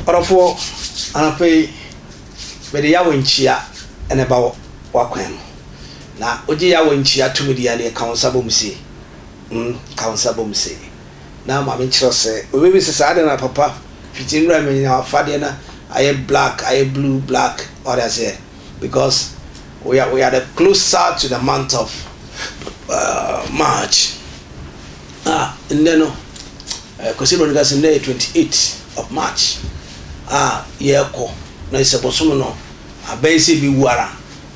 Ɔdɔfoɔ, anɔpa yi mede Yahweh nkyia na ɛba w'akwan mu. Na wogye Yahweh nkyia tumidie a, deɛ ka wo nsa bɔ mu sei, mm, ka wo nsa bɔ mu sei. na Maame kyerɛw sɛ, Obebisa sɛ, 'Adɛn na Papa fiti nwura mu nyinaa w'afadeɛ no ayɛ black, ayɛ blue, black? Wate aseɛ? Because we are, we are the closer to the month of uh, March. A ah, nnɛ no, eh, Kwesi Broni ka sɛ nnɛ yɛ 28 of March a ah, yɛrekɔ na ɛsɛ bosom no abɛn sɛ ebewu ara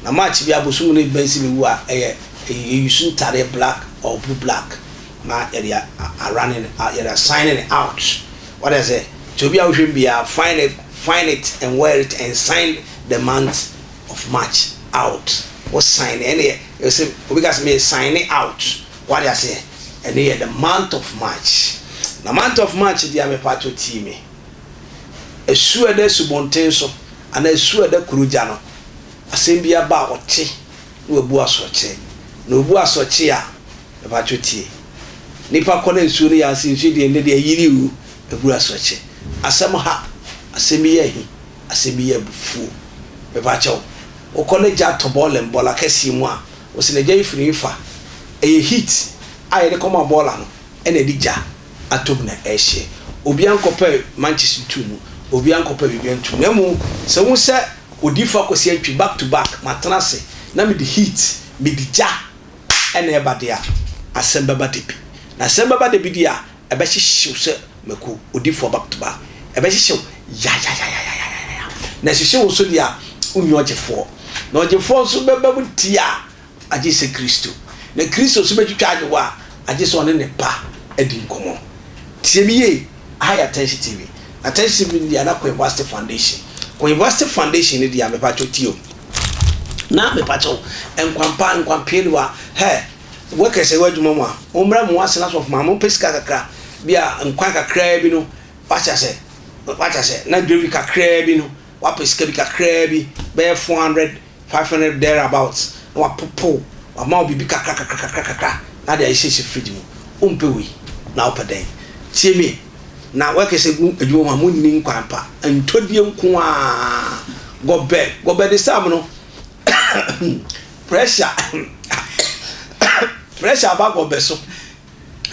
na March bi abosom no ebɛn sɛ ebewu a ɛyɛ eyi su ntadeɛ black or blue black. na yɛde a running a yɛde a signing out wate aseɛ nti obi a wohwɛ mu biara find it find it and wear it and sign the month of march out wo sign ɛne yɛ ɛsɛ obi ka sɛ meyɛ sign it out wate aseɛ ɛne yɛ the month of march na month of march deɛ mepatɔ tii me ɛsuo ɛda subɔnten so anaa ɛsuo ɛda kuro gya no asɛm bi aba a ɔte na wabu asɔkye. Na obu asɔkye a, mepatwo tie. Nipa kɔ na nsuo no yɛ ase, nsuo deɛ nnɛ deɛ ayiri o, abu asɔkye. Asɛm ha, asɛm bi yɛ ahi, asɛm bi yɛ abufuo. Mepakyɛ wo, wokɔ na gya tɔ bɔɔla mu, bɔɔla kɛseɛ mu a, wo se na gya yi firi hefa? Ɛyɛ heat a yɛde kɔma bɔɔla no na ɛde gya. atom na ɛrehyɛ. Obiara nkɔpɛ mankyes nto mu, obiara nkɔpɛ biribiara nto mu, na mmom sɛ wohu sɛ Odiyifo Akwasi Antwi, back to back, matena ase na mede heat, mede gya na ɛreba de a, asɛm bɛba da bi. Na asɛm bɛba da bi deɛ a, ɛbɛhyehye wo sɛ mako, odiyifoɔ back to back. Ɛbɛhyehye wo yayayayayayaya. Na ɛhyehye wo nso deɛ a, wonni ɔgyefoɔ. Na ɔgyefoɔ nso bɛba mu tia a, agye sɛ Kristo, na Kristo nso bɛtwitwa agye wo a, agye sɛ ɔne ne Ba adi nkɔmmɔ. Tie me yie, aha yɛ Atɛnhye TV, na Atɛnhye TV no di Anna Koivuasthi Foundation. Koivuasthi Foundation no di a, mepakyɛw tie o, na mepakyɛw, Nkwampa, Nkwampianiwa, hɛɛ, workers a ɛwɔ adwuma mu a, mommra mu, as na sɔfo ma, mopɛ sika kakra, bi a nkwan kakraa bi no, wate ase, wate ase, na gravy kakraa bi no, woapɛ sika bi kakraa bi, bɛyɛ four hundred five hundred there about na wapopow wama wo biribi kakra kakra kakra kakra na ade ahyɛ hyɛ fridge mu wompɛ wei na wopɛ dɛn tie me na wɛkɛ sɛ gu adwuma mu a monni nkwan pa ntɔdie nko a gɔbɛ gɔbɛ de sam no pressure pressure aba gɔbɛ so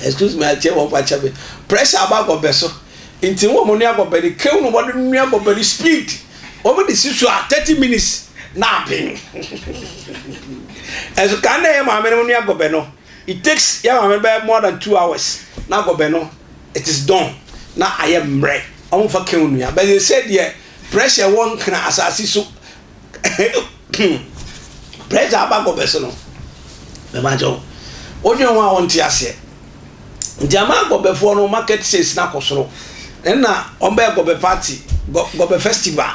Excuse me, akyɛ wɔn fa kyɛ me. Pressure aba agɔbɛ so. Nti wɔn mo nua agɔbɛ ni kew no wɔde nua agɔbɛ ni speed. Wɔn de si so a thirty minutes na aben. Ɛso kan na ɛyɛ maame no nua agɔbɛ no. It takes yɛ maame bɛ more than two hours na agɔbɛ no it is done na ayɛ mmerɛ. Wɔn fa kew nua. Bɛyɛ sɛ deɛ pressure wɔ nkran asase so. Pressure aba kɔ bɛso no mema kyɛw wodwen ho a wonte aseɛ nti ama gɔbɛfoɔ no market sales no akɔ soro ɛna wɔbɛyɛ gɔbɛ party gɔbɛ festival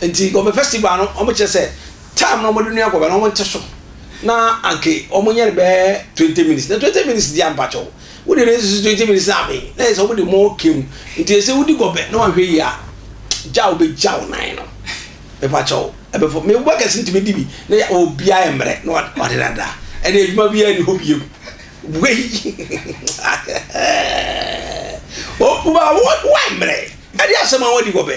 nti gɔbɛ festival no wɔkyerɛ sɛ time no wɔde nua gɔbɛ no wɔnte so na anke wɔnyɛ no bɛyɛ twenty minutes na twenty minutes di ampa kyɛw wode ne nsusu twenty minutes na abe na yɛ sɛ wɔde mɔ kew nti yɛ sɛ wodi gɔbɛ na wahwɛ yi a gya wobɛgya wo nan no mepa kyɛw ɛbɛfɔ me bɔ kɛse ntumi di bi na yɛ obia yɛ mmerɛ na ɔde dada ɛna adwuma bi yɛ ne hɔ biem wei ɔkuma wɔn mmerɛ ɛde asɛm a wɔdi gɔbɛ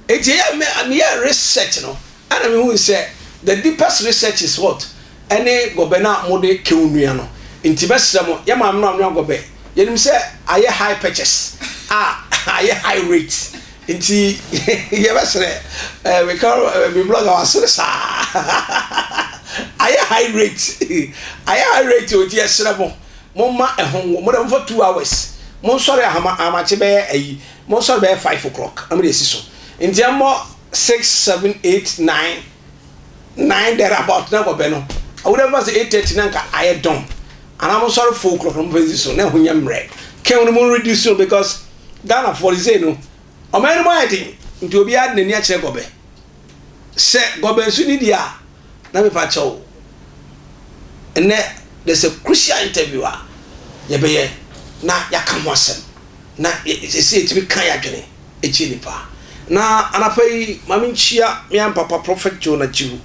eti ɛyɛ mɛ meyɛ research no ɛna mehu sɛ the deepest research is what ɛne gɔbɛ no a mode kew nua no nti bɛsrɛ mo yɛ maame no anwa gɔbɛ yɛnim sɛ ayɛ high purchase a ayɛ high rate Nti yɛ bɛ serɛ eh, me ka eh, me blog a wa sere saa ayɛ high rate ayɛ high rate o nti yɛ serɛ mo mo ma ɛho wo mo dɛ mo fa two hours mo nsɔre ahama ahamakye bɛyɛ ayi mo nsɔre bɛyɛ five o'clock na mo de esi so nti ɛmɔ six seven eight nine nine there about na nkɔbɛ no awuda bɛ ba sɛ eight thirty na nka ayɛ dɔn anaa mo nsɔre four o'clock na mo fɛ esi so na ɛho nyɛ mmerɛ kɛn no mo reduce no because. Ghanafoɔ de sei no, ɔman no mu ayɛ den nti obiara de n'ani akyerɛ Gɔbɛ. Sɛ Gɔbɛ nso ni deɛ a, na mepa kyɛw nnɛ there's a crucial interview a yɛbɛyɛ na yɛaka ho asɛm na ɛsɛ yɛtumi ka yɛn adwene kyerɛ nnipa. Na anapa yi ma menkyia me yam papa Prophet John Achihu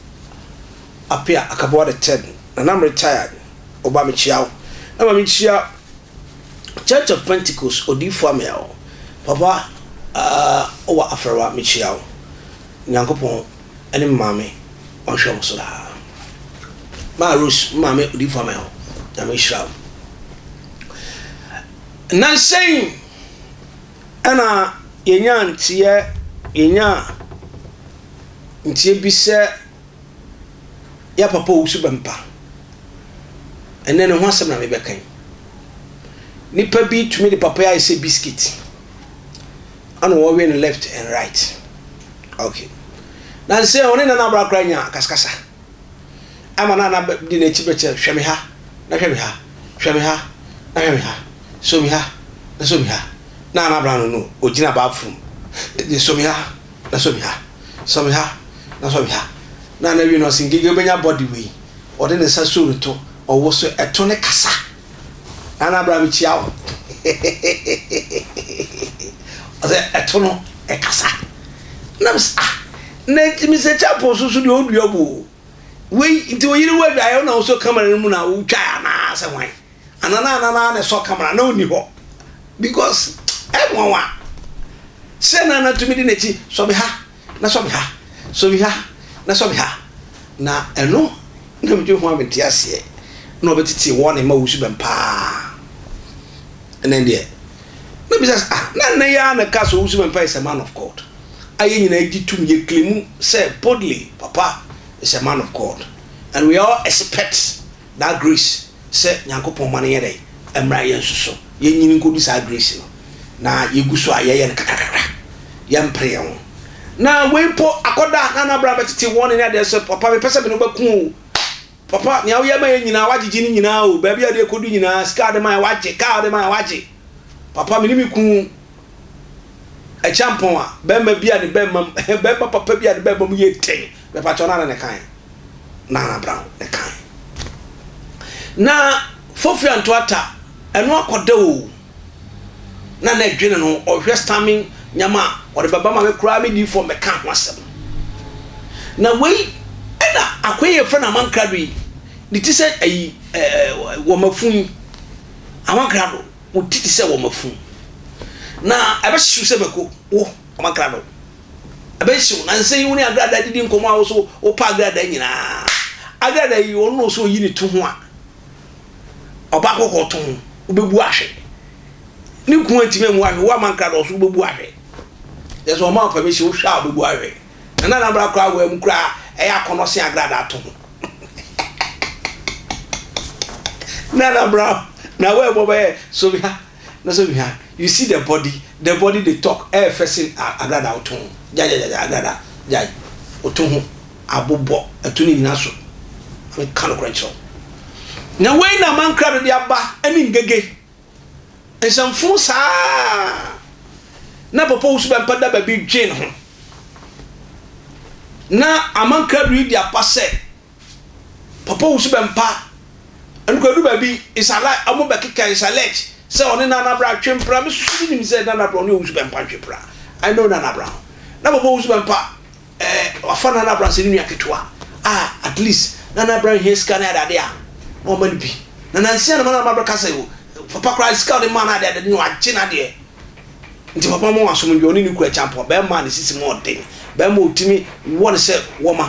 Apea Akaboa the third, Nana me retired, ɔba mekyia wo. Na ma menkyia Church of Pentecost odiyifoɔ Amiel papa ahh ɔwɔ afɛrwa mekyia wo Nyankopɔn ɛne me maame ɔnhwɛ wo so daa maa Rose me maame odiyifoɔ Amiel Nyame nhyira wo Nnansa yi ɛna yɛnyaa nteɛ yɛnyaa nteɛ bi sɛ yɛ papa owu so bɛmpa. Ɛnnɛ no ho asɛm na mebɛka yi. Nipa bi tumi de papa yi ayɛ sɛ biscuit. Ana wɔwe no left and right. Okay. Na nsɛ ɔne nana abra koraa nya kaskasa. Ama na ana di n'akyi bɛkyɛ hwɛ me ha na hwɛ me ha hwɛ me ha na hwɛ me ha so me ha na so me ha na ana abra no no ogyina bathroom de so me ha Na sɔ me ha, sɔ me ha, na sɔ me ha. Na na wie no ɔse Ngege wobɛnya body wei. Ɔde ne nsa soo ne to, ɔwo so ɛto ne kasa. Nana bra mekyia wo hehehehehehehe Ɔse ɛto no ɛkasa. Na mese ah na nti Mister Chapo so so deɛ ɔdua bu o. Wei nti oyere wo adwaeɛ wo na wosɔ camera no mu na wotwae anaa sɛ hwan. Ana na Ana na ne sɔ camera na ɔnni hɔ because ɛnwanwa sɛ na Ana tumi di n'akyi sɔ me ha na sɔ me ha sɔ me ha na sɔ me ha na ɛno na medwe ho a mente aseɛ na ɔbɛtete wɔ ne ma wusu bɛm paa ɛnɛ deɛ na bisa sɛ ah na nna yi ara na ka so wusu bɛm paa is a man of God ayɛ nyinaa gye tum yɛ claim sɛ boldly papa is a man of God and we all expect That grace sɛ Nyankopɔn ma no nyɛ dɛn? Ɛmmra yɛn nso so. Yɛnnyini nkɔdu saa grace no. Na yɛgu so a yɛyɛ no kakrakakra. Yɛmpere yɛn ho. Na wei mpo akɔda a na Nabra bɛtete wɔne ne adeɛ sɛ papa mepɛ sɛ me ne wo bɛko o. Papa nea woyɛ ma yɛn nyinaa woagyegye ne nyinaa o. Baabi a wode ɛkɔdu nyinaa sika a wode ma yɛn woagye, kaa a wode ma yɛn woagye. Papa me ne me kunu Akyampɔn a bɛrima bi a ne bɛrima mu bɛrima papa bi a ne bɛrima mu yɛ den. Mepakyɛw no ara na ɛkaeɛ. Nana Brown ne kan. Na Fofri Antoata ɛno akɔda o na na ɛdwene no ɔhwɛ stamming nneɛma a ɔde bɛba ma me koraa me di fam bɛka ho asɛm. Na wei ɛna akoya yi yɛfrɛ no Aman Krado yi ne ti sɛ ayi ɛɛ wɔmafu yi Aman Krado wo ti te sɛ wɔmafu na ɛbɛhyew sɛ mako wo Aman Krado. Ɛbɛhyew na ɛsɛ sɛ yiw ne agradaa didi nkɔmmɔ a woso wopa agradaa nyinaa. Agradaa yi ɔno na ɔsɛ oyi ne to ho a ɔba kɔkɔɔ to ho, wobɛbu ahwɛ. Ne kun antumi ammu ahwɛ, wo ama nkradɔɔ so wobɛbu ahwɛ. Yɛ sɛ ɔma ɔpɛ me hyɛ wohwɛ a wobɛbu ahwɛ. Na na n'abra koraa awaa mu koraa ɛyɛ akɔnnɔ sen agradaa to ho. na n'abra na awaa mu ɔbɛyɛ so me ha. No so hwɛ a, you see the body, the body dey talk, ɛyɛ fɛ sen agradaa woto ho, gyagyagyagyagya agradaa, gyae, woto ho, abobɔ, atu ne nyina so, meka nokorɛ nkyerɛ wo. Na wei na aman krado de aba, ɛne ngege, nsɛmfoo saa na Papa Owusu Bɛmpa da baabi dwen ho, na aman krado yi de aba sɛ Papa Owusu bɛmpa ɛno koraa ɛdu baabi Isala ɔmo bɛkeka Isalɛkyi sɛ ɔne Nana Brown twe mpena me susu menim sɛ Nana Brown ɔne Owusu bɛmpa ntwe mpena I know Nana Brown na Papa Owusu bɛmpa ɛɛ wafa Nana Brown sɛ ne nua ketewa a at least Nana Brown hia sika ne adeade a na wama no bi na nansi a na Nana Brown bɛka sɛ Papa koraa sika a ɔde maa no adeade no wagye n'adeɛ. Nti papa ma wasomdwee ɔne ne kura kyampɔn bɛɛma a ne sisi mu ɔden bɛɛma otimi wɔ no sɛ wɔma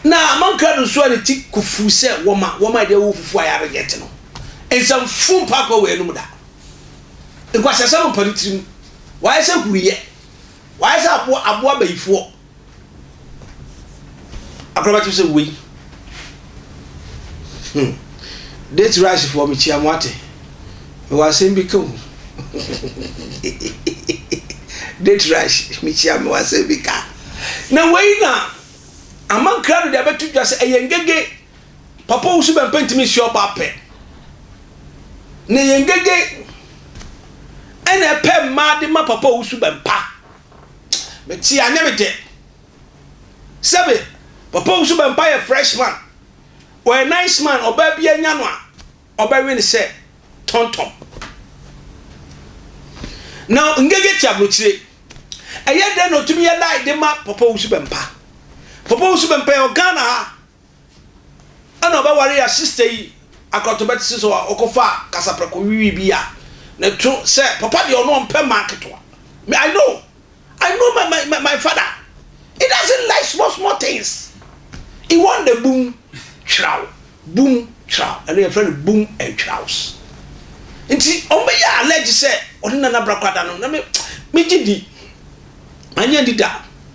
na mankra do nso a ne ti kofuu sɛ wɔma wɔma ɛde awo fufuo a yɛarejɛte no nsɛm fo mpa akɔ wɔ yɛnom da nkwaseasɛm mpa ne tirim wayɛ sɛ huruyɛ wayɛ sɛ aboa aboa bayifoɔ Akora bɛte sɛ wei. Hmm. Date rice foɔ mekyia mo ate. Mewɔ asɛm bi ka o. Date rice mekyia mewɔ asɛm bi ka. Na wei na amankra no de abɛto dwa sɛ ɛyɛ ngege. Papa wusu bɛmpɛ ntumi nsi ɔba apɛ. Na ɛyɛ ngege ɛna ɛpɛ mmaa de ma papa wusu bɛmpa. Me te a nyɛ me dɛ. Sɛ me papa wu so bɛ mpa yɛ fresh man ɔyɛ nice man ɔbaa bia nya no a ɔbɛ we no sɛ tɔntɔn na ngege te abrokyire ɛyɛ dɛn na ɔtumi yɛ lie de ma papa wu so bɛ mpa papa wu so bɛ mpa yɛ wɔ Ghana ha ɛna ɔbɛware ya sister yi akoratɔba te sɛ sɛ ɔkɔfa kasaprɛko wiwi bi a ne to sɛ papa deɛ ɔno ɔmpɛ mmaa nketewa me I know I know my my my, my father he doesn't like small small things he want the boom twiraw boom twiraw ɛno yɛfrɛ no boom and twiraws nti ɔmbɛyɛ allege sɛ ɔne nana brakɔ ada no na me megye di manyɛ di da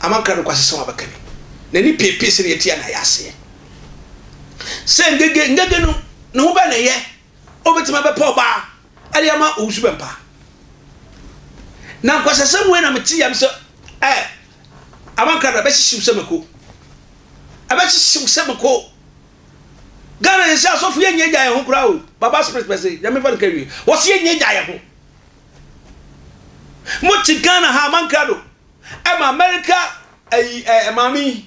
Ama nkra nokwasesɛ ho abɛka bi. N'ani peepee sɛnea eti a na ayɛ aseɛ sɛ ngege. Ngege no, ne ho bɛn na ɛyɛ a obetumi abɛpɛ ɔbaa de ama owusu bɛmpa? Na nkwasasɛm wei na mete yam sɛ, ɛ, Ama nkra no, ɛbɛhyehye wo sɛ mako. Ɛbɛhyehye wo sɛ mako. Ghana yɛn sɛ asɔfo yɛn nyɛ gya yɛn ho koraa o. Baba Spirit pɛ se Nyame mfa no nka awie. Wɔse yɛn nyɛ gya yɛn ho. Mo kyi Ghana ha man krado ɛma America ɛyi ɛ maame yi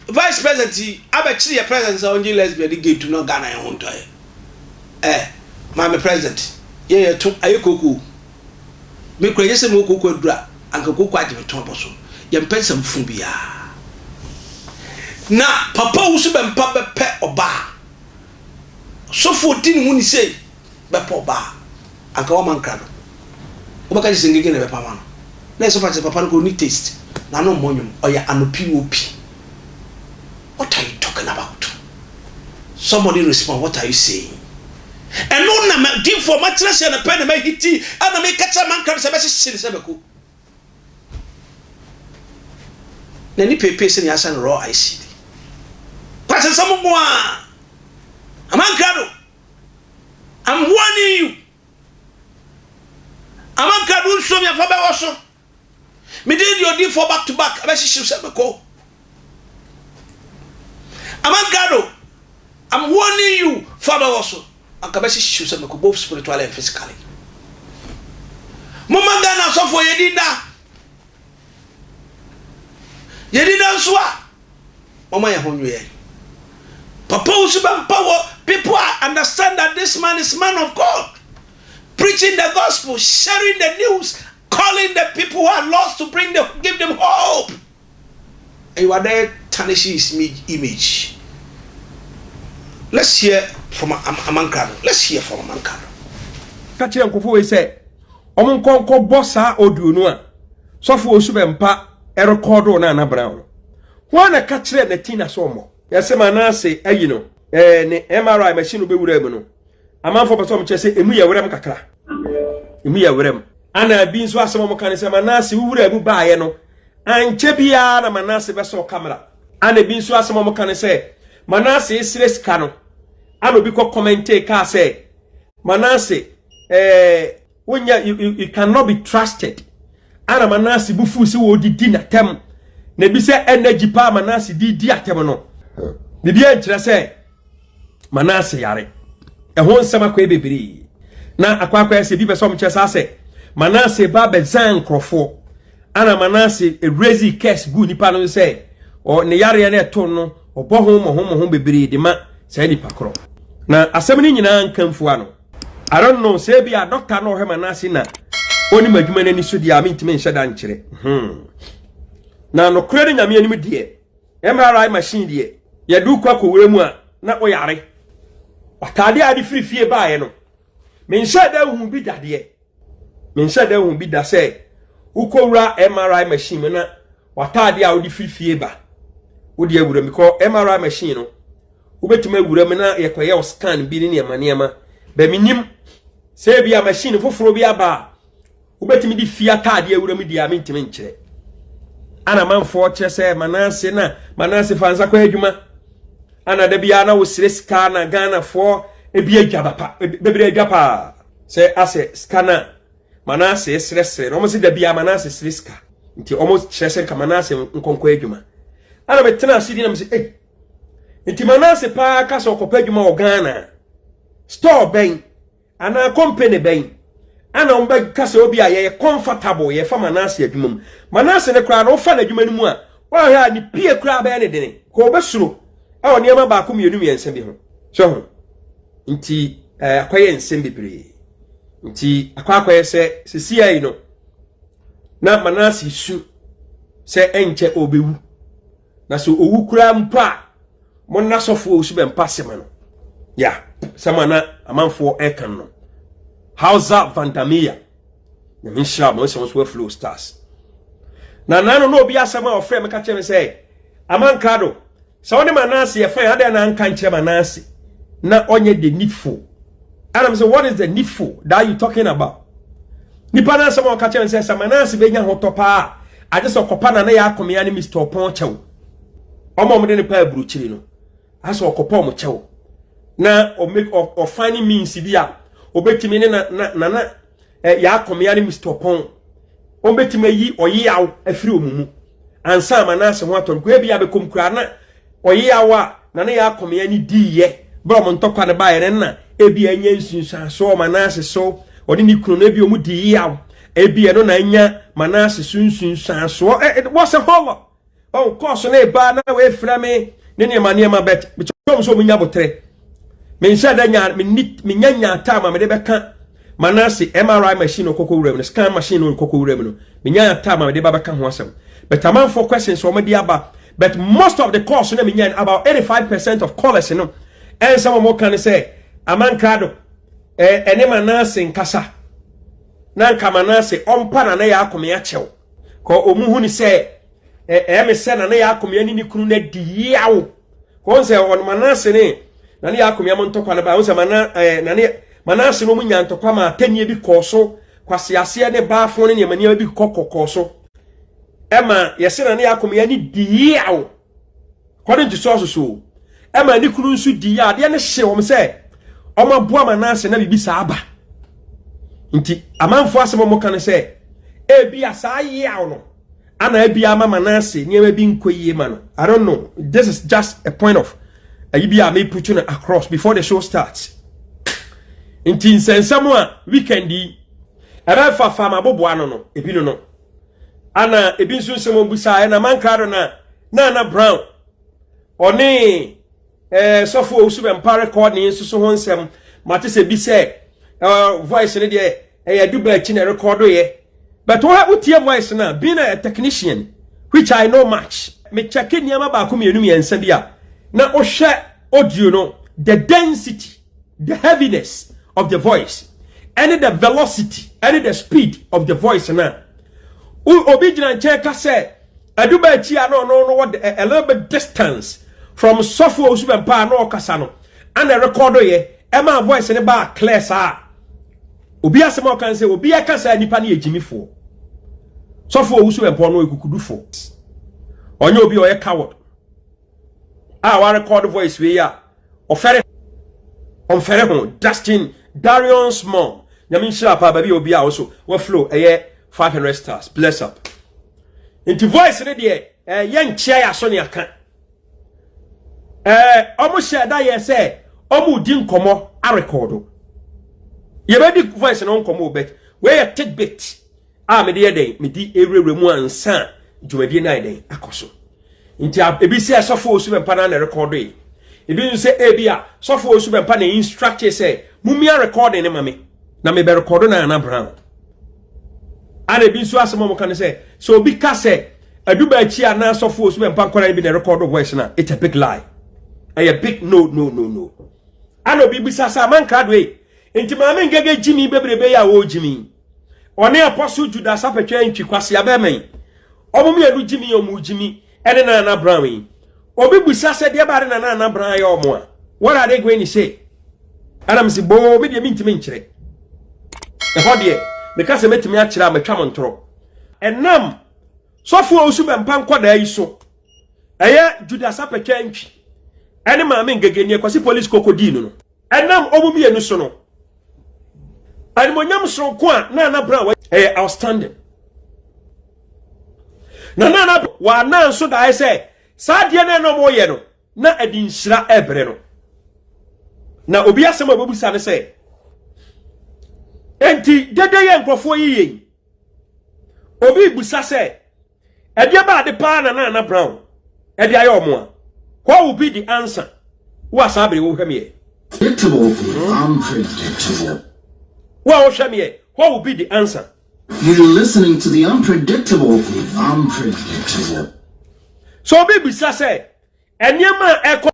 vice president yi abɛkyere yɛ president sɛ ɔngye lesbian de gay tum na Ghana yɛ ho ntɔ yɛ ɛ maame president yɛ yɛ to ayɛ koko me kura yɛ sɛ mo koko adura anka koko agye me to abɔ so yɛ mpɛ nsɛm fun bia na papa wusu bɛ mpa bɛpɛ ɔbaa sɔfo ɔdi ne ho ni sei bɛpa ɔba a, anka wama nkrado. Wobɛka kyerɛ sɛ ngege na ɛbɛpa ama no. Na ɛsɛ wofa kyerɛ sɛ papa no koraa ɔnni taste, n'ano mmɔ nwom, ɔyɛ anopi wopi. What are you talking about? Somebody respond, what are you saying? Ɛno na ma difoɔ makyerɛ sɛ no pɛ na mahiti a na meka kyerɛ amanka no sɛ bɛhyehye no sɛ mako. N'ani peepee sɛnea asɛ no raw ice yi bi. Kwansɛnsɛm nko ara! Amankrado! I'm warning you Amanka du nsuo mmiɛnfa bɛwɔ so Me din deɛ odiifoɔ back to back abɛhyehyew sɛ mekɔ Amanka do I'm warning you fa bɛwɔ so Anka bɛhyehyew sɛ mekɔ both spiritually and physically Momma Ghana asɔfoɔ yɛ din daa Yɛnni nnɛ nso a, momma yɛn ho nnwo yɛn. Papa Owusu Bɛmpa wɔ People are understand that this man is man of God, preaching the gospel, sharing the news, calling the people who are lost to bring the, give them hope. And you are there tarnishing his image. Let's hear from Amankra. Let's hear from Amankra. Ka kyerɛ nkurɔfoɔ wei sɛ Ɔmo nkɔ nkɔ bɔ saa audio no a sɔfo osu bɛ mpa ɛrekɔɔdoo Nana Brown no. Hwan na ɛka kyerɛɛ Natina sɛ ɔmmɔ? Yɛse ma Nase ayi no ɛɛ ne MRI machine no bɛwuraa mu no amanfoɔ pɛsɛ ɔmo kyerɛ sɛ emu yɛ werɛm kakra. Emu yɛ werɛm. Ana ɛbi nso asɛm ɔmo ka ne sɛ ma Nase wuwuraa mu baayɛ no ankyɛ biaa na ma Nase bɛsɔɔ camera. Ana ɛbi nso asɛm ɔmo ka ne sɛ ma Nase srɛ sika no ana obi kɔ commentee kaa sɛ Manase, eh, wonya, you, you, you cannot be trusted. Ana Manase bu fuu sɛ wɔdidi n'atɛm. Na ebi sɛ energy paa Manase di di atɛm no. Biribi ankyerɛ sɛ Manase yare. Ɛho nsɛm akɔyɛ bebree. Na akwaakwaɛ sɛ ebi pɛ sɛ ɔmkyerɛ saa sɛ Manase ba bɛzan nkurɔfoɔ. Ana Manase erezi curse gu nipa no sɛ ne yareɛ no ɛto no Wɔbɔ ho mmɔhommɔho bebree de ma saa nipa korɔ. Na asɛm no nyinaa nka mfua no. I don't know sɛ ebi a dɔkta na ɔhwɛ ma n'ase na onim adwuma no ani so deɛ a mentumi nhyɛ da nkyerɛ. Hmm. Na nokorɛ no nyame anim deɛ MRI machine deɛ yɛde wokɔ akɔwura mu a na woyare. Watadeɛ a de firi fie baeɛ no menhyɛ da nhu bi dadeɛ. Menhyɛ da nhu bi da sɛ wokɔwura MRI machine mu na w'ataade a wode firi fie ba wode awura mu kɔ MRI machine no wobɛtumi awura mu na yɛkɔyɛ wo scan bi ne nneɛma nneɛma bɛ menim sɛ bi a machine foforɔ bi aba a wobɛtumi de fie ataade awura mu deɛ a mentumi nkyerɛ ana manfoɔ kyerɛ sɛ manase na manase fa nsa kɔ adwuma ana da biara na wosere sika na ghanafoɔ ebi adwa papa bebree adwa paa sɛ asɛ sika no a manase srɛsrɛ no ɔmo se dabi a manase sere sika nti ɔmo kyerɛ sɛ nka manase nkɔnkɔ adwuma ana metena ase di na mese ei nti manase paa ka sɛ ɔkɔpɛ adwuma wɔ ghana store bɛn anaa company bɛn ana ɔmo bɛka sɛ obi a yɛyɛ comfortable yɛfa manase adwuma mu manase no koraa na wofa n'adwuma no mu a woahwɛ a ne pie koraa bɛyɛ ne dene ka ɔbɛsuro ɛwɔ nneɛma baako mmienu mmiɛnsa bi ho so ho nti ɛɛ eh, akɔyɛ nsɛm bebree nti akɔ akɔyɛ sɛ sisi ayi no na manase su sɛ ɛnkyɛ ɔbɛwu na sɛ owu koraa mpo a mo nna sɔfoɔ osu bɛ mpa sɛma no ya sɛma na amanfoɔ ɛka no hausa vandamia nyame nhyira mo sɛ mo so aflow stars na nano na obi asɛm a ɔfrɛ me ka kyerɛ me sɛ Amankado, sɛ wo ne Manase yɛ fine, adɛn na anka nkyerɛ Manase na ɔnyɛ the needful? And I'm saying, what is the needful that you talking about? Nipa na asɛm a ɔka kyerɛ sɛ sɛ Manase bɛnya ho tɔ paa a, agye sɛ ɔkɔpa na ne yɛ akomea ne Mr. Ɔpɔn kyɛw. Ɔma ɔmo de ne paa aburukyiri no, asɛ ɔkɔpa ɔmo kyɛw na ɔmake ɔfine means bi a ɔbɛtumi ne na na na ɛ yɛakɔmea ne Mr. Ɔpɔn wɔbɛtumi ayi ɔyeyaw afiri wɔn mu ansa ama no ase ho atɔ no kɔ ebi abɛkɔm koraa na ɔyeyaw a na ne yɛakɔmea ne diiɛ berɛ wɔn ntɔkwa no baeɛ no na ebi anya nsunsuansoɔ ma no ase so ɔne ne kunu no ebi wɔn di yeyaw ebi ɛno na anya ma no ase so nsunsuansoɔ ɛ wɔ sɛ hɔlɔ ɔn kɔɔ so na ɛbaa na wɔafira me ne nneɛma nneɛma bɛt mekyɛm sɛ ɔmunya botere menhyɛ da nya menya nyaa taa ma mede bɛka manase mri machine no kɔkɔ wura mu no scan machine no nkɔkɔ wura mu no menya taa ma mede ba bɛka ho asɛm but amanfoɔ questions wɔn de aba but most of the calls na menya about 85 percent of callers no ɛnsɛm wɔn ka no sɛ amankrado ɛne manase nkasa na nka manase ɔmpa na na yɛ akome akyɛw Kɔ ɔmu hu ne sɛ ɛyɛ me sɛ Nana Yaakomea ne ne kunu no adi yaw. Kɔ ɔn sɛ ɔno Manase ne Nana Yaakomea mo ntɔkwa no ba. Ɔn sɛ Mana, eh, Nana, Manase no ɔmu nya ntɔkwa ma atɛnniɛ bi kɔɔ so. Kwaseaseɛ ne baafo ne nneɛma nneɛma bi kɔ kɔkɔɔ so. Ɛma yɛse Nana Yaakomea ne di yaw. According to sources o, ɛma ne kunu nso di yɛ adeɛ no hye wɔn sɛ wɔn aboa ma n'ase na biribi saa aba. Nti amanfoɔ asɛm wɔn ka no sɛ ebi a saa yaw no ana ebi ama ma n'ase nneɛma bi nkɔ yie ma no. I don't know. This is just a point of ayi bi a me put no across before the show starts. Nti nsɛnsɛm a weekend yi ɛbɛfa fa ma boboa no no ebi no no. Ana ebi nso nsɛm a wɔbisaeɛ na mankaa do no a, na Ana Brown ɔne eh, sɔfo a ɔsu bɛmpa rekɔɔdne nso so ho nsɛm. Mate sɛ bi sɛ eh, voice no deɛ ɛyɛ adu baa akyi na ɛrekɔɔdoeɛ. But woha wotie voice no a, being a technician, which I know much, mekyɛke nneɛma baako mmienu mmiɛnsa bi a, na wohwɛ audio no, the density, The heaviness of the voice ɛne the velocity ɛne the speed of the voice na obi gyina nkyɛn ka sɛ aduba akyi a na ɔno no wɔ a little bit distance from sɔfo a osu bɛn paa na ɔkasa no ɛna rekɔdo yɛ ɛma voice ne baa clear saa obi asɛm a ɔkan sɛ obi ɛka sɛ nipa ne yɛ gyimifoɔ sɔfo a osu bɛn pɔn no ekukudufoɔ ɔnyɛ obi ɔyɛ coward. a wa record voice wei a ɔfɛre ɔmfɛre ho Dustin Darion Small nyame nhyira paa baabi a obi a ɔso wa flow ɛyɛ 500 stars bless up nti voice ne deɛ ɛyɛ nkyia yɛ aso ne aka ɛɛ ɔmo hyɛ da yɛ sɛ ɔmo di nkɔmɔ arekɔdo yɛbɛdi voice no nkɔmɔ obɛt wei yɛ tidbit a mede yɛ dɛn mede awurawura mu ansa dwumadie no ayɛ dɛn akɔ so nti ebi sɛ sɔfo osu bɛmpa na na rekɔdo yi ebi nso sɛ ebi a sɔfo osu bɛmpa na instruct sɛ mumia recording ne ma me na me bɛ record na ana brown ana ebi nso asɛm a wɔka no sɛ sɛ obi ka sɛ aduba akyi a na sɔfo osu bɛmpa nkɔla ebi na record voice na it's a big lie ɛyɛ big no no no no ana obi bisa sɛ amanka do yi nti maame ngege gyimi bebrebe yi a wɔgyimi ɔne apostle judas apɛtwɛ ntwi kwasea bɛmɛn ɔmo mmienu gyimi ɔmo gyimi ɛne nana brown yi obi busa sɛ deɛ baade na nana brown ayɛ ɔmo a what are they going to say ɛna mo si boo me deɛ me ntumi nkyerɛ ɛhɔ deɛ meka sɛ mɛtumi akyerɛ a mɛtwa mo ntorɔ ɛnam sɔfo a osu bɛmpa nkɔdaa yi so ɛyɛ judas apɛtwɛ ntwi ɛne maame ngegenie kwasi polisi kokodii no no Ɛnam wɔn mmienu so no, animonyam soronko a Nana Brown wɔ ɛyɛ outstanding. Na Nana Brown wɔ anan so daeɛ sɛ saa adeɛ no ɛna wɔyɛ no na ɛde nhyira ɛbrɛ no. Na obi asɛm a wɔbɛbusa no sɛ enti dede yɛ nkurɔfoɔ yiye yi, obi busa sɛ Ɛdeɛ bɛn ade paa na Nana Brown de ayɛ wɔn a? What will be the answer? Wo a saa bere yi wohwɛ me ɛ. Wo a wohwɛ me ɛ, what will be the answer? Sɛ obi bisa sɛ nneɛma a ɛkɔ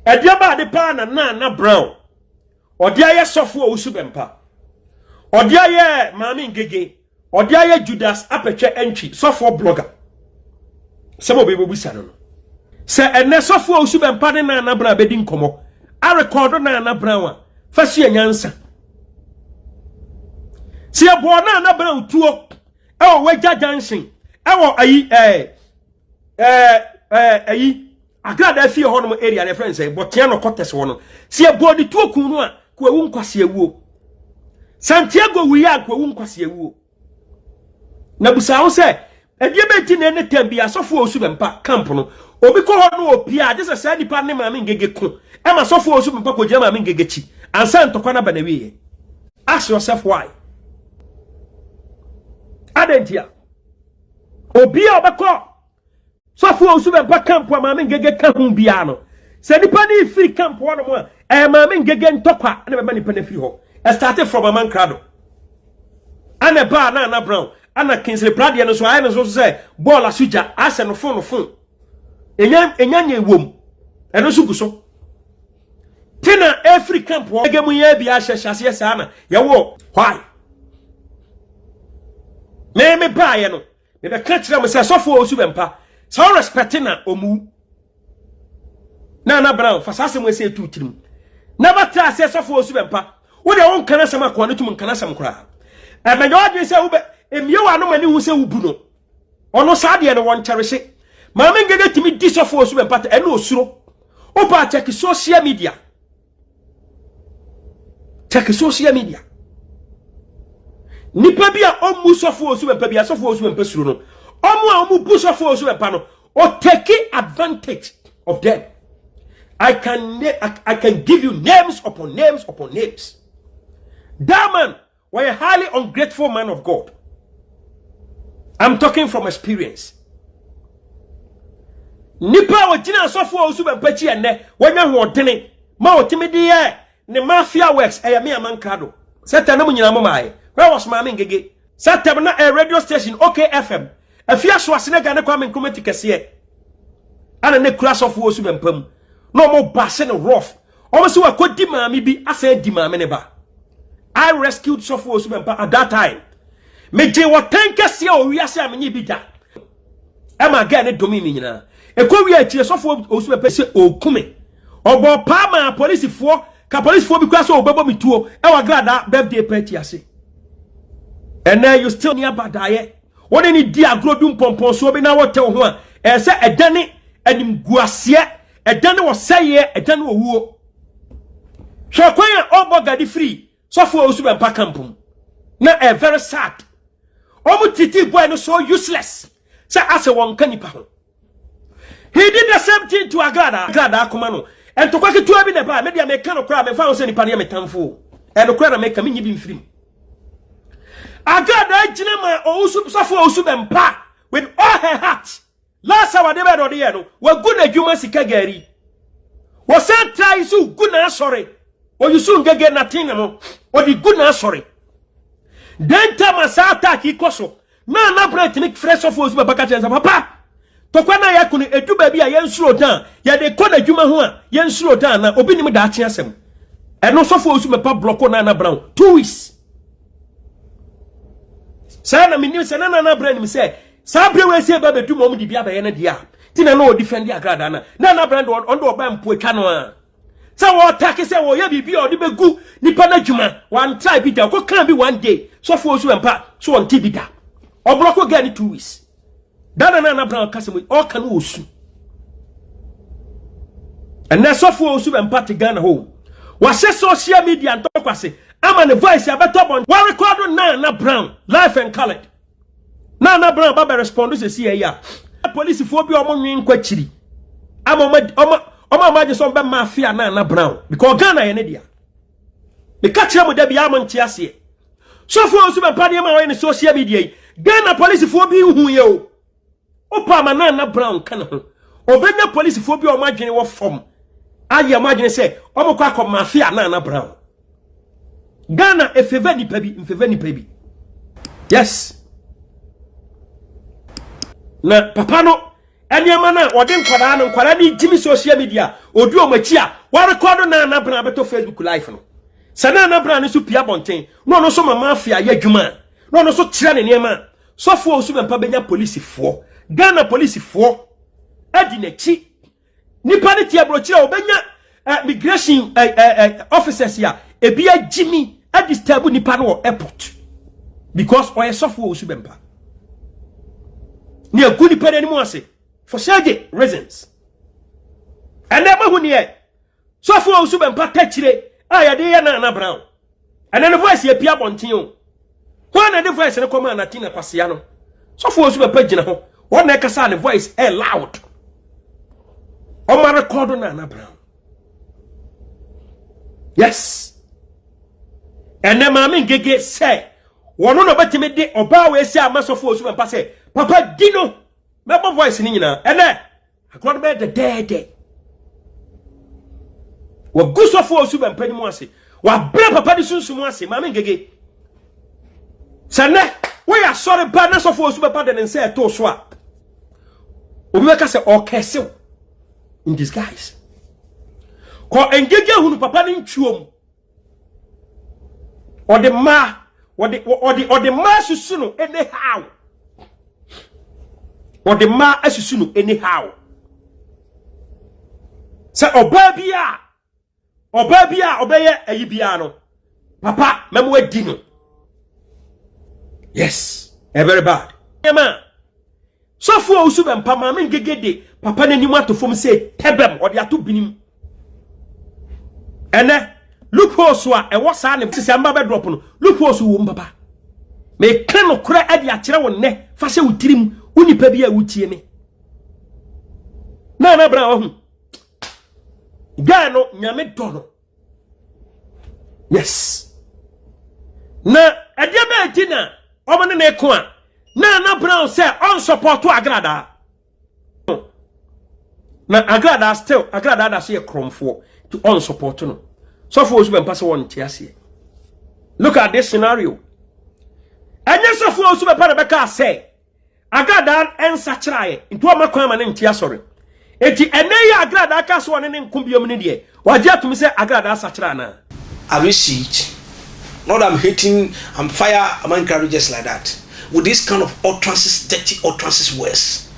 ɛdeɛ bɛn ade paa na Nana Brown ɔde ayɛ sɔfo a ɔwusu bɛmpa, ɔde ayɛ maame ngege, Ɔde ayɛ Judas apɛtwɛ ntwi sɔfoɔ blogger. Sɛm a obɛbɛbusa no no. Sɛ ɛnɛ sɔfoɔ a osu bɛmpa ne Nana Brown bɛdi nkɔmmɔ, arekɔɔdo Nana Brown a, fa sua nyansa. Sɛ yɛbɔɔ Nana Brown tuo ɛwɔ Wagya Junction ɛwɔ ayi ɛɛ ɛɛ ɛyi Agradaa fie hɔ nom area na ɛfrɛ no sɛ bɔtea na ɔkɔtɛs hɔ no sɛ ɛbɔɔ ne tuo kun no a kwawu nkwasi awuo Santiago wuiɛ a kwawu nkwasi awuo na busa ho sɛ ɛdeɛ bɛnti na ɛne tam bi asɔfoɔ osu bɛmpa camp no obi kɔ hɔ no ɔpia agye sɛ saa nipa ne maame ngege ko ɛma asɔfoɔ osu bɛmpa kɔgyina maame ngege kyi ansa ntɔkwa no aba na wieɛ ask yourself why adɛn ntia obi a ɔbɛkɔ Sɔfo a osu bɛba camp a Maame Ngege ka ho biara no, sɛ nnipa no refiri camp hɔnom a, ɛyɛ Maame Ngege ntɔkwa na ɛbɛma nnipa no afiri hɔ. Ɛstate from Amankrado ɛna ɛbaa Nana Brown ɛna Kingsley Pradeɛ no nso ayɛ no nso so sɛ bɔɔl aso gya asɛ no fon no fon. Enya enya nyɛ wom ɛno nso gu so. Te na ɛfiri camp hɔ ɛgɛ mu yɛ bi ahyɛ hyɛ aseɛ saa na yɛwɔ hɔ a. Mɛmɛ baayɛ no. Me bɛ ka kyerɛ mo sɛ sɔfo a osu bɛ mpa sɛ ɔrɛ spɛte na ɔmu. Na na Brown fa saa asɛm ɛsɛ etu tirim. Na bɛ tra sɛ sɔfo a osu bɛ mpa. Wo deɛ wo nka na asɛm akoa no tum nka na asɛm koraa. Ɛmɛnyɛ ɔdwen sɛ wo bɛ emie wɔ ano ma ne hu sɛ wo bu no. Ɔno saa deɛ no wɔ nkyɛrehye. Maame Ngege tumi di sɔfo a osu bɛ mpa ta ɛna osuro. Wo ba check social media. Check social media. Nipa bi a ɔmu sɔfo osu bɛpa bi asɔfo osu bɛpa suro no. Ɔmo a ɔmo bu sɔfo osu bɛpa no, or take advantage of them. I can I, I can give you names upon names upon names. That man Wɔyɛ highly ungrateful man of God. I'm talking from experience. Nipa a ogyina asɔfo a osu bɛmpakyi ɛnɛ, wɔnya hoɔdene ma otimi de yɛ ne mafia works ɛyɛ me amanka do. Sɛ tɛm na mo nyinaa mo maayɛ. Where was Maame Ngege? Sɛ tɛm na ɛyɛ radio station OKFM. Afi aso ase na gya ne Kwame Nkrumah ti kɛseɛ. Ana ne kura asɔfo osu bɛmpa mu. Na wɔn ba ase ne rough. Wɔn so akɔ di maame bi asan adi maame ne ba. I rescued sɔfo osu bɛmpa at that time. Megye wɔ tɛn kɛseɛ wɔ wiase a menye bi da. Ɛma gɛɛ ne dome me nyinaa. Ɛkɔ wie akyire sɔfo osu bɛpɛ sɛ ɔku me. Ɔbɔ paa maa polisifoɔ ka polisifoɔ bi kura sɛ ɔbɛbɔ me tuo ɛwɔ agradaa birthday party ase. Ɛnɛ you still near badaeɛ. Wo ne ne di agorɔ du mpɔmpɔnsoɔ bi na wotɛ wo ho a ɛsɛ ɛdane animguaseɛ Ɛda ne ɔsɛeɛ, ɛda ne owuo. Hwɛ kwan a ɔbɔ gade firi sɔfo a ɔsu bɛmpa camp mu. Na ɛyɛ very sad. Wɔn titi boy no so useless sɛ asɛ wɔn nka nipa ho. He did the same thing to Agrada. Agrada akoma no. Ntokwa ketewa bi na ɛbaa. Me deɛ meka no koraa mefa ho sɛ nipa no yɛ me tamfo. Ɛno koraa na meka menyi bi mfirim. Agrada gyina ma ɔwusu sɔfo a ɔsu bɛmpa with all her heart. Last hour de bɛn na ɔde yɛ no wagu n'adwuma sika gari wɔsan tra yi so gu n'asɔre oyi so ngege natin no ɔde gu n'asɔre dɛnta ma saa attack yi kɔ so na anabena tene frɛ sɔfo osu bɛba ka kyerɛ nsa papa tɔkwa na yɛako no edu baabi a yɛnsuro dan yɛde kɔ n'adwuma ho a yɛnsuro dan na obi nim daakye asɛm ɛno sɔfo osu bɛpa blɔko na anabena two weeks saa na menim sɛ na anabena nim sɛ Saa bere wei sɛ ba bɛdu ma wɔn de bi abɛyɛ no deɛ a ti na na ɔdifɛnde agradaa na na na brand ɔno de ɔba mpo atwa no a sɛ wɔtake sɛ wɔyɛ biribi a ɔde bɛgu nipa no adwuma wɔantra bi da ɔkɔ kan bi one day sɔfoɔ nso ɛmpa so ɔnte bi da ɔblɔko gɛ ne two weeks da na na na brand ɔka sɛ mu ɔka no ɔsu ɛnɛ sɔfoɔ nso bɛmpa te Ghana hɔ wahyɛ social media ntɔkwase ama ne voice abɛtɔ bɔn wɔrekɔdo na na brown life and colored na na bra ba bɛ respond sɛ si ɛyɛ a polisifoɔ bi a wɔn nwen nkɔ akyiri ama wɔn ama wɔn ama agye sɛ wɔn bɛ ma afia na na bra o because Ghana yɛ ne dea meka kyerɛ mo da bi ama nte aseɛ sɔfoɔ nso bɛ mpa nneɛma a wɔyɛ ne social media yi Ghana polisifoɔ bi nhu yɛ o Wopɛ ama Nana Brown ka ne ho. Obenya polisifoɔ bi a wɔn adwene wɔ fam ayɛ wɔn adwene sɛ wɔkɔ akɔ mafia Nana Brown. Ghana efeva nipa bi mfeva nipa bi. Yes. Na papa no nneɛma no a wɔde nkwadaa no nkwadaa no gyimi social media odi wɔn akyi a wɔrekɔdo Nana Brown abɛtɔ Facebook live no. Sɛ Nana Brown no nso pia bɔnten na ɔno nso ma mafia yɛ adwuma a na ɔno nso kyerɛ ne nneɛma a Sɔfoɔ Owusu Bɛmpa bɛnya polisifoɔ, Ghana polisifoɔ adi n'akyi. Nipa no te aburokyire a ɔbɛnya eh, migration eh, eh, eh, officers a ebi agyimi adisturb nipa no wɔ airport because ɔyɛ sɔfoɔ Owusu Bɛmpa. Ne agu nipa no anim ase for shady reasons. And then, who near? Sɔfo a ɔsu bɛmpa takyire a yɛde yɛ Nana Brown. Ɛnɛ ne voice yɛ pie abɔnten o. Hwan na ɛde voice no kɔmaa Natina Kwasea no? Sɔfo a ɔsu bɛmpa gyina hɔ. Wɔn na ɛkasa a ne voice ɛyɛ loud. Ɔma rekɔdo Nana Brown. Yes. Ɛnɛ maame ngege sɛ wɔn na ɔbɛtumi de ɔbaa wɔ esi ama sɔfo a ɔsu bɛmpa sɛ papa di no mɛbɔ voice no nyinaa. Ɛnɛ Agorɔ no bɛyɛ dɛdɛɛdɛ. Wɔgu sɔfo a ɔsu bɛmpa no mu ase. Wɔabrɛ papa no sunsum ase. Maame Ngege, sɛ nnɛ woyɛ asɔre ba na sɔfo a ɔsu bɛpa de ne nsa ɛtoo so a, obi bɛka sɛ ɔkɛsew in disguise. Kɔ Ngege hunu papa no ntwuo mu. ɔde mmaa ɔde ɔde ɔde mmaa asusu no anyhow ɔde mmaa asusu no anyhow sɛ ɔbaa bi a ɔbaa bi a ɔbɛyɛ ayi biara no papa mɛmo adi no yes ɛbɛrɛ bad nneɛma a. Sɔfo a osu bɛmpa maame ngege de papa n'anim ato fam sɛ tɛbɛm ɔde ato binim. Ɛnɛ loopholes a ɛwɔ saa ne sisi amba bɛ drop no loopholes wɔ mu papa. Meka nokorɛ de akyerɛ wo nnɛ fa hyɛ wo tirim wo nipa bi a wotie me. Na na bra wahu. Guy no nyame dɔ no yes na ɛdeɛ bɛɛ ti na wɔn ne ne ko a na ana brown sɛ ɔnsɔpɔto agradaa na agradaa still agradaa da so yɛ korɔmfoɔ nti ɔnsɔpɔto no sɔfo osu bɛmpa sɛ wɔn nte aseɛ look at this scenario ɛnyɛ sɔfo osu bɛpa na bɛka sɛ Agradaa nsakyeraeɛ nti wɔmma kwan ma no nte asɔre. Enti ɛnɛ yi a Agradaa kaa sɛ ɔne no nko biom no deɛ, wagye atom sɛ Agradaa asakyera anaa? I will see it not that I'm hating I'm fire Aman Krado just like that with this kind of utterances dirty utterances words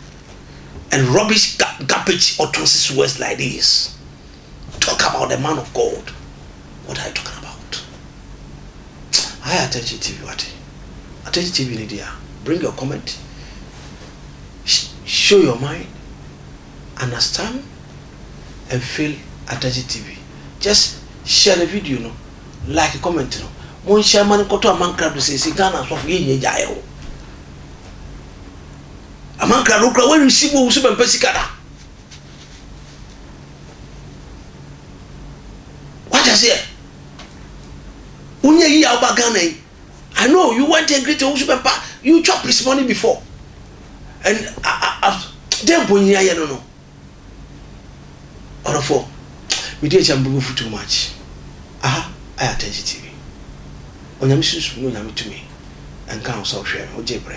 and rubbish garbage utterances words like this. Talk about the man of God what are you talking about I attention TV wate attention TV ne deɛ bring your comment show your mind understand and feel attention TV just share the video no like comment no mo nhyɛ ama no nkɔtɔ amankra do sɛsi Ghana asɔfo yɛ nyɛ gyaeɛ o amankra do kura wɔn receive wo so bɛmpɛ sika da. Wate aseɛ? Wonyɛ yie a woba Ghana yi. I know you went a great nso bɛba you chop his money before and a a a dɛn mpo nyini ayɛ no no ɔdɔfoɔ medi akyɛ me bɛbɛfu too much aha ayɛ atɛnkye tv onyame sunsum ne onyame tumi nka ho sɛ ɔhwɛ no wogye brɛ